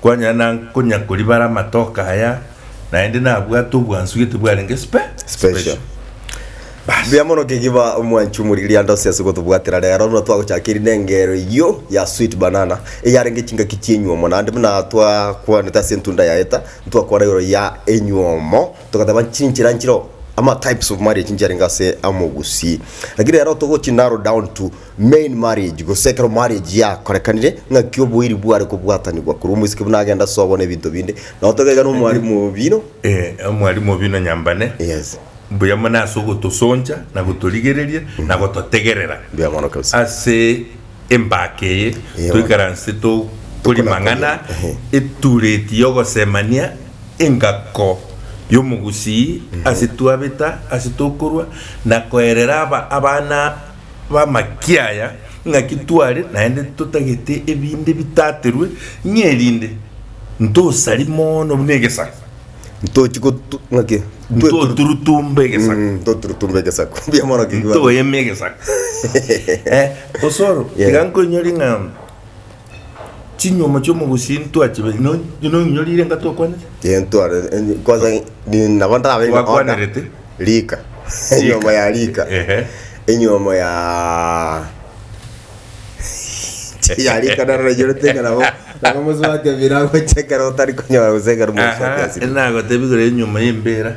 Kwanyara na konya koribara amatoke aya, naende nabwate obwansu gete bwarenge spe, Special. Bas. Mbuya mono kegiba omwancho omorigire'ande ase ase gotobwatera rero buna twagochaka eri nengero eyio ya sweet banana eyarenge chingaki chienywomo naende buna twakwanete ase entunda ya heather ntwakwana igoro ya enywomo togateba chinchera nchire ama types of marriage nchiarenge ase amo gusii lakini rero togochi narrow down to Main marriage, gose ekero marriage yakorekanire, ng'aki oboiri bware kobwatanigwa korwa omosike buna agende ase obone ebinto binde, nabo toka iga na omwalimu obino. Eh, omwalimu obino nyambane. Yes. Mbuya mono ase ogotosoncha na gotorigereria na gototegerera Mbuya mono kabisa. ase embaka eye Eyo. toikaranse tokori Tokona mang'ana koria. Ehe. etureti y'ogosemania engako y'omogusii ase twabeta ase tokorwa na koerera aba abana b'amaki aya, ng'aki tware naende totagete ebinde bitaterwe, ng'a erinde ntosari mono buna egesaku, ntochi gotu, ng'aki? ntoturutumba egesaku, Mm, ntoturutumba egesaku. Mbuya mono kegima. ntoyeme egesaku. Eh, osoro, Yeah. tiga nkoinyore ng'a Chinyuomo chi'omogusii ntwachibeti, no- no ng'inyo rirenga twakwanete? Ee, ntware eh, kwanza ni- nabo ndarabe ng'a oda. Twakwanerete. Rika. Enyiomo ya rika. Ehe. Enyiomo ya ya rika naro nainyerete ng'a nabo nabo mosubati ebiira agocha ekero otari konyora gose ekero mosubati Aha, asibire. nagotebi kore enyiomo y'embera.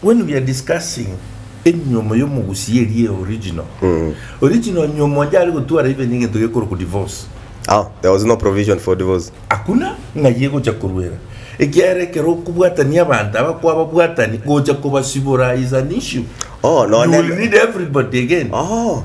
When we are discussing enyiomo ya omogusii eria eye original, original nyiomo onde are gotwara even egento gekorokwa divorce. Ah, there was no provision for divorce. Hakuna ng'ai egocha koruera, ekiagera ekero okobwatania abanto aba kwababwatani, gocha kobasibora is an issue. Oh, You nonye- will need everybody again. Oh,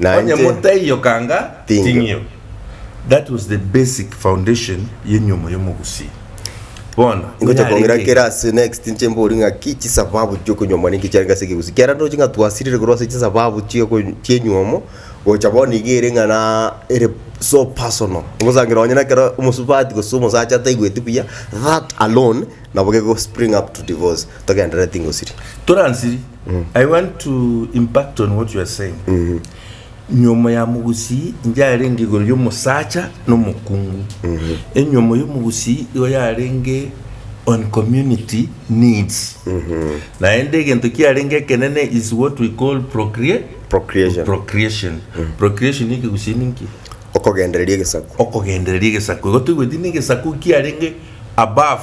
na Onye inche motaiyo kanga ting'io. ting'io. That was the basic foundation y'enyomo y'omogusii. Bono Ingocha kong'ira nyarenge kere ase next inche mbori ng'aki chisababu chiokonyuomwa ninki chiarenge ase ekegusi kiarenge ndoche ng'a twasirire korwa ase chisababu chioko chienyuomo gocha bono iga ere ng'a naa ere so personal ogosangira onye nekero omosubati gose omosacha ataigweti buya that alone nabo gegospring up to divorce togenderere tingosiria. Toransiri. I want to impact on what you are saying. Nyomo ya mogusii inche yarenge igoro y'omosacha na omokungu. Enyomo y'omogusii igo yarenge on community needs. Naende egento kiarenge ekenene is what we call procrea- Procreation. procreation. Procreation ekegusii ninki? Okogendereria egesaku. Okogendereria egesaku. Igo toigweti na egesaku kiarenge above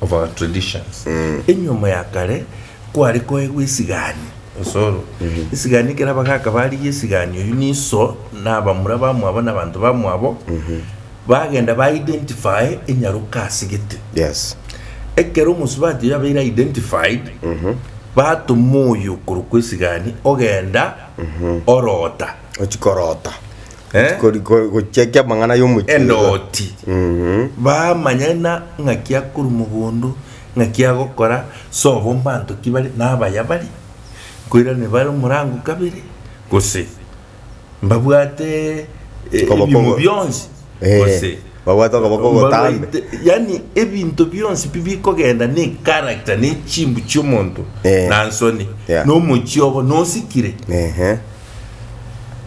of our traditions. Enyomo ya kare kware koegwa esigani, osoro. Esigani ekero abagaka barigia esigani oyio niso na abamura bamwabo na abanto bamwabo bagenda ba identify enyaroka ase gete. Yes. Ekero omosubati oyio abeire identified batoma oyo okorokwa esigani ogenda orota. Ochia korota. Eh? Kori- kori- gochekia amang'ana y'omochie oiga. endoti Mhm. bamanya na ng'aki akorwa mogondo ng'aki agokora sobo mbanto ki bare nabaya bare nkoirane bare omorango kabere gose mbabwate eh, Okoboko ebimo ogo- bionsi Eh, gose babwate okoboko ogotambe. mbabaite- yani ebinto bionsi pi bikogenda na echaracter na echimbu chiomonto Eh. na nsoni Yeah. na omochie obo nosikire Ehe.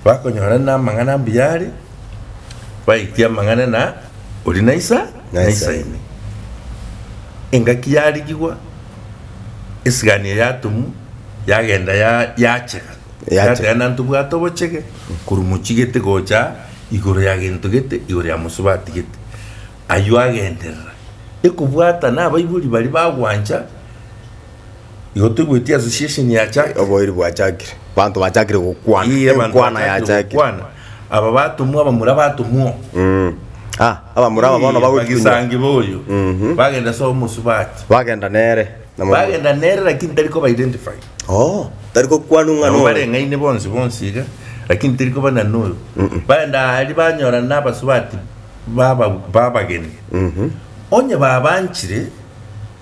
Bakonyora namang'ana ambuya are, baetie amang'ana na oria na isa na isaini. Engaki yarigigwa, esigania yatumu, yagenda ya yachega. Yachega. Yateba nanto bwate obochege korwa mochigete gocha igoro ya gento gete igoro ya mosobe atigete. Ayio agenderera ekobwata nabaibori baria bagwancha. Igo toigweti association yachakire. Oboiri bwachakire. Banto bachakire gokwana. Ii abanto Enkwana bachakire yachakire. gokwana. Aba batomwa abamura batomwa oo. Mm. Ah, abamura aba bono Ii, bagotwa inyuma. bagisangeba oyo. Mhm. Bagenda ase omosubati. Bagenda nere. Na mo- Bagenda nere lakini tari koba identify. Oo, tari gokwanwa ng'a Nabo nore. bareng'aine bonsi bonsi iga, lakini teri koba nani oyo. Bagenda aria banyorana na abasubati baba- babageni. Mhm. Onye babanchire.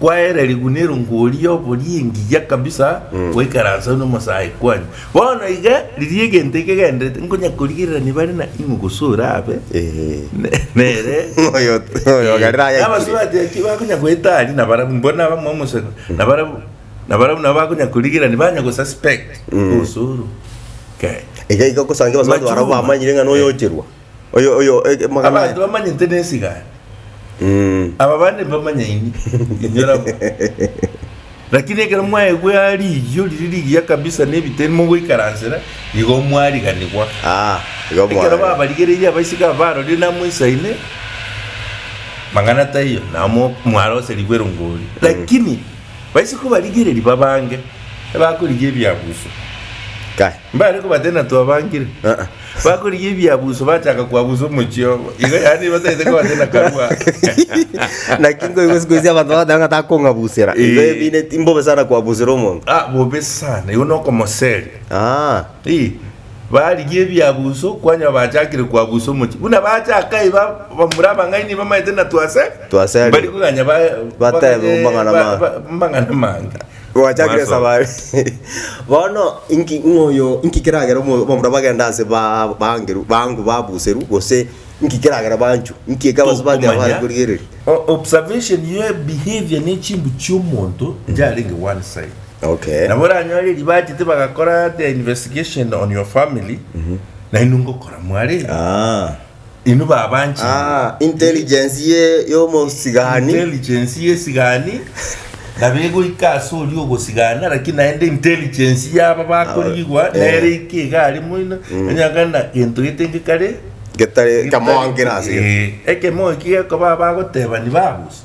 kwaererigwa nerongori y'obori engiya kabisa goikaransa nomosae kwane. Bono iga riria egento ekegenderete nkonya korigererania bare na ing'we gose orabe ne- nere Oyo- oyo ogarire ayakire. Abasubati eki bakonya goeta aria na barabu mbona abamwe omosegwe na barabu na barabu nabo bakonya korigerania banya go suspect osoro. Ke. Iga iga okosangira abasubati barabwo Machungwa. bamanyire ng'a noyo ocherwa. Oyo, oyo, eh, eh, magana Abanto aya. bamanyete nesigani, Mm. aba bande mbamanyaini inywe rabwo. Lakini ekero mwaigwe aa riiyo riri rigiya kabisa na ebiteni mogoikaransera, nigo mwariganigwa. Ah, igo Ekero mwaye. babarigereirie abaiseke aba barorire namoisaine, mang'ana taiyo, nao mo- mwaroserigwe rongori. Lakini baise kobarigereria babange, ebakorigia ebiaguso. Kai. Mbare kobatena twabangire. Aa. Bakorigia ebiabuso bachaka kwabusa omochie obo. Igo yaani batagete kobatena karua. Naki nkoigwa siku isi abanto bagoteeba ng'a takong'abusera. Igo Eh. ebine timbobe sana kwabusera omonto. Ah, bobe sana. Igo nokomoseria. Aa. Ii, barigia ebiabuso kwanyora bachakire kwabusa omochie. Buna bachaka aye ba- bamura abang'aini bamaete na twase. Twaseri. Bari koganya ba- Batebe bagaye- mang'ana ba- mang'ana. ba- mang'ana mange. Gwachakire Mwaso. esabari bono inki ng'oyo inki keragera omo- omonto bagenda ase ba- bangeru bangu babuseru gose inki keragera banchu inki ekabase bagera Tokomanya. bare korigereria O- observation ye behavior ne chimbu chiomonto yarenge one side okay nabo oranyore eri bachete bagakora their investigation on your family nainwe ngokora mware Ah, Inwe babanchire. Ah, intelligence ye y'omosigani. Intelligence y'esigani nabo egoika ase oria ogosigana, lakini naende intelligence y'aba bakorigigwa Ah, eh. nere ike iga aria moino, onye kana gento getenge kare Getare kamoangera ase. Eh, ekemo eki gekoba abagoteba ni babusi.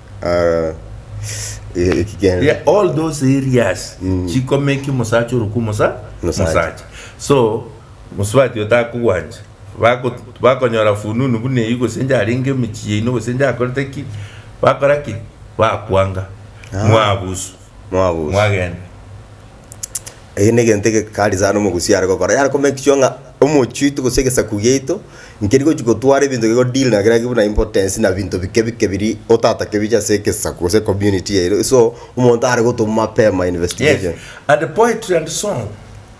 Ria- all those areas chikomeki omosacha oroka omosa Mosacha. mosacha so mosubati oyo takogwancha Bako- bakonyora fununu buna eyio gose inche arenge emechie yaino gose inche akorete ki bakora ki bakwanga mwabusu Mwabuse. Eki negento egekari sana omogusi are gokora, yare ko make sure ng'a omochie oito gose egesaku giaito nkeri gochi gotwara ebinto geko deal na kera buna importance na binto bike bike biria otatake biche ase egesaku gose community yaito so omonto are gotoma mapema investigation.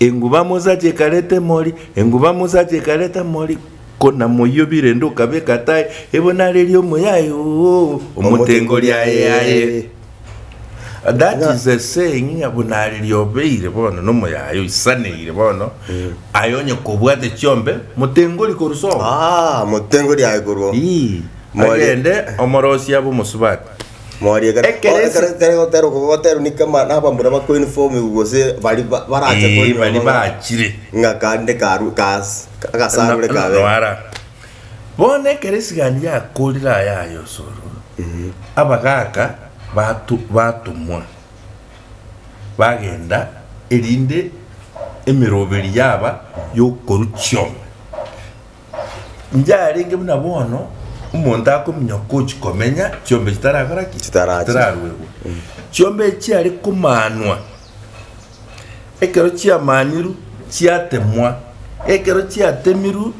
Enguba Musa chikareta emori, enguba Musa chikareta emori, ko namoyio birende okabeka tae, ebo nareria omoyae oo omotengo riaye yaye. That is a saying ng'a bo nareria obeire bono nomoyae oisaneire bono, aye onye kobwate chiombe, motengori korwa sobo. Ah, motengo riaye korwa Ii, omori. agende omorosia bw'omosubati. Morie ekero Ekero ase- ekero ekero gotera okogotera ni kama na abamura ba Queen Form gose bari ba- barache Eh, konywa bari amang'ana. bachire. Ng'a kande karu kas agasarure kabe. Nwara. Bono ekero esigani yakorire aya aye osoro, abagaaka batu- batomwa, bagenda, erinde emeroberi yaba y'okorwa chioma. Yarenge buna bono omonto akominyoka gochi komenya chiombe chitarakora ki? Chitarachi. Chitararuegwe. Chiombe echi chiare komanwa ekero chiamanirwe chiatemwa. Ekero chiatemirwe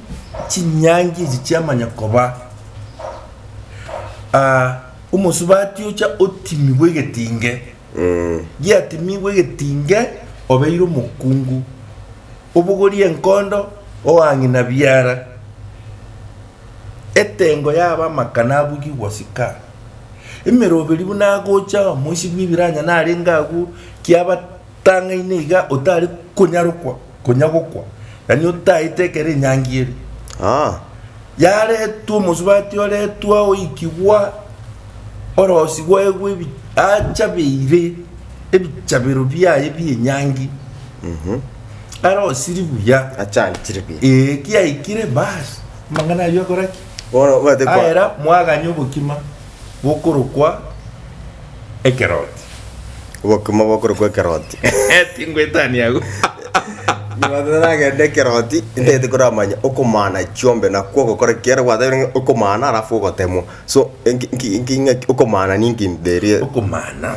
chinyangi echi chiamanya koba ah, omosubati ocha otimigwe egetinge. Giatimigwe egetinge obeire omokungu. Obogorie enkondo oang'ina biara, etengo y'abamaka nabugigwa sika. Emeroberi buna agocha omoichi bw'ebiranya narenge agwo kiabatang'aine iga otare konyarokwa konya gokwa, na nigo otaete ekero enyangi ere. yaretwa omosubati oretwa oikigwa orosi gwaigwa ebi- achabeire ebichabero biaye bi'enyangi arosiri buya Achantire bi. ee kiaikire bas amang'ana ayio akora ki Bono bwate kwa- aera mwaganya obokima bokorokwa Ekeroti. Obokima bokorokwa Ekeroti. Tingwetania agwo. Nyuma toragende Ekeroti, intagete koramanya okomana chiombe nakwo ogokora ki. Ekero gwatabire ng'a okomana alafu ogotemwa. So, enki- enki- enki- ng'aki okomana ninki in the real. Okomana.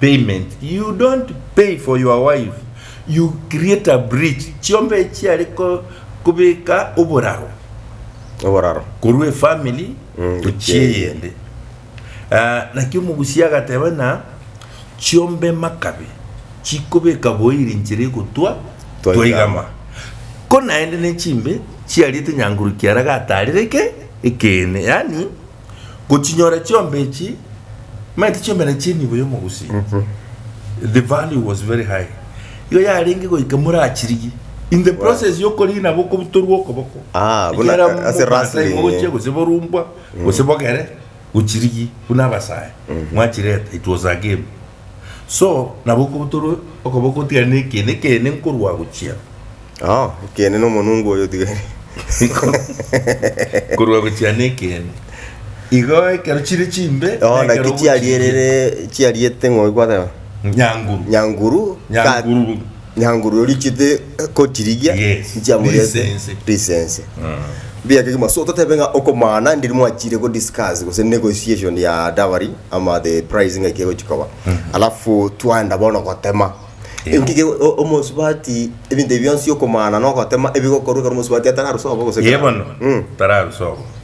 payment you don't pay for your wife you create a bridge chiombe echi chiare kobeka oboraro oboraro korwa efamily gochia eyende ah, naki omogusia agateba na chiombe makabe chikobeka boiri nchera egotwa twaigama ko naende ne chimbe chiariete nyangurukia ara gatarire ke ekeene yaani Gochinyora chiombe echi maete chiomera chie enibo y'omogosinti. The value was very high. Igo yarenge goika morachirigie. In the process y'okorigi nabo okobutorwa okoboko. Ah, buna Ekero ase mogosaima wrestling, gochia eh. gose borumbwa gose bogere gochirigi buna abasae mwachireta it was a game So nabo okobotoro okoboko otigane ne ekeene ekeene nkorwa agochia. Oh, ekeene na omonungu oyo otigari. Korwa agochia ne ekeene. Igo ekero chire chimbe. Oh, na naki chiarierere chiariete ng'oigwa nyanguru. Nyanguru. Nyanguru. Nyanguru richete kotirigia Yes. nchiamorete Lisense. lisense mbuya kegima so totebe ng'a okomana ndiri mwachire go discuss gose negotiation ya dowry ama the price ng'ai kegochi koba alafu twaenda bono gotema Ego. Engige o- omosubati ebinto ebi bionsi okomana na ogotema ebigokorwa ekero omosubati atararusa obo gose Ye bono Mm. tararusa obo